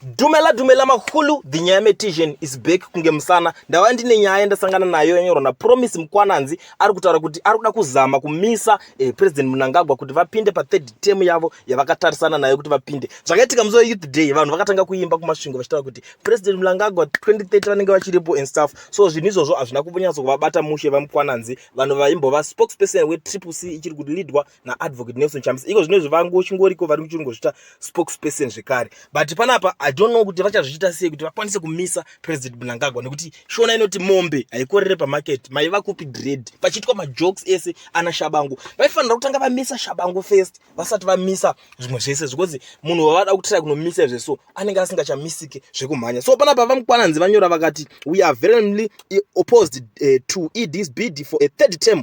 Dumela dumela makulu the nyaya metician is back kunge musana ndava ndine nyaya ndasangana nayo yanyorwa napromise mukwananzi ari kutaura kuti ari kuda kuzama kumisa eh, president munangagwa kuti vapinde pathird term yavo yavakatarisana nayo kuti vapinde zvakaitika musi weyouth day vanhu vakatanga kuimba kumasvingo vachitaura kuti president munangagwa 2030 vanenge vachiripo and stuff so zvinhu izvozvo hazvina kunyatso kuvabata mushe vamukwananzi vanhu vaimbova spokesperson wetriple c ichiri kuti leadwa naadvocate nelson chamisa iko zvino zvivangu chingoriko vari kuchingozvita spokesperson zvekare but panapa i don't know kuti vachazviita sei kuti vakwanise kumisa president mnangagwa nekuti shona inoti mombe haikorere pamarket maiva kupi dread pachiitwa majokes ese ana shabangu vaifanira kutanga vamisa shabangu first vasati vamisa zvimwe zvese zvikozi munhu wavada kutira kunomisa izve so anenge asingachamisike zvekumhanya so panapa vamukwananzi vanyora vakati we are verenly opposed uh, to edis bid for a third term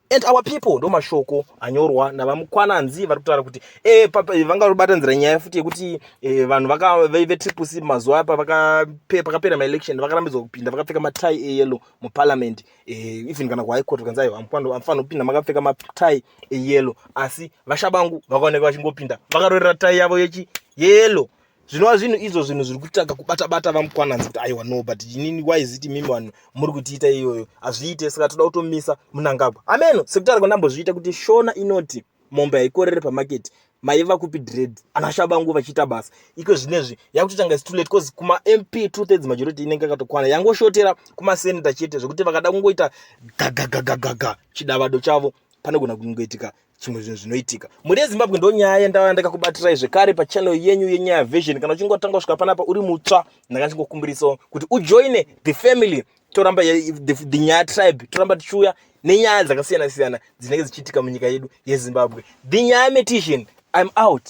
and our people ndo mashoko anyorwa navamukwananzi vari kutaura kuti eh, eh, vanga vabatanzira nyaya futi yekuti eh, vanhu vetriple c mazuva apa pakapera maelection vakarambidzwa kupinda vakapfeka matai eyellow muparliament even kana kuhigh court kanzi aiwa amfanira kupinda makapfeka matai eyellow asi vashabangu vakaoneka vachingopinda vakarorera tai yavo yechi yellow zvinova zvinhu izvo zvinhu zviri kutanga kubata bata vamukwananzi kuti aiwa no but inini why is it mimi vanhu muri kutiita iyoyo hazviite saka toda kutomisa munangagwa ameno sekutara kwandambozviita kuti shona inoti mombe haikorere pamaketi maiva kupi dread ana shabangu vachiita basa iko zvinezvi yakutotanga situlet bcause kumamp two thirds majority inenge akatokwana yangoshotera kumaseneta chete zvekuti vakada kungoita gagagagagaga chidavado chavo panogona kungoitika chimwe zvinhu zvinoitika mhuri yezimbabwe ndo nyaya yandava ndakakubatirai zvekare pachannel yenyu yenyaya vision kana uchingotanga kusvika panapa uri mutsva ndanga ndichingokumbirisawo kuti ujoine the family toramba the, the nyaya tribe toramba tichiuya nenyaya dzakasiyana siyana dzinenge dzichiitika munyika yedu yezimbabwe the nyaya metition im out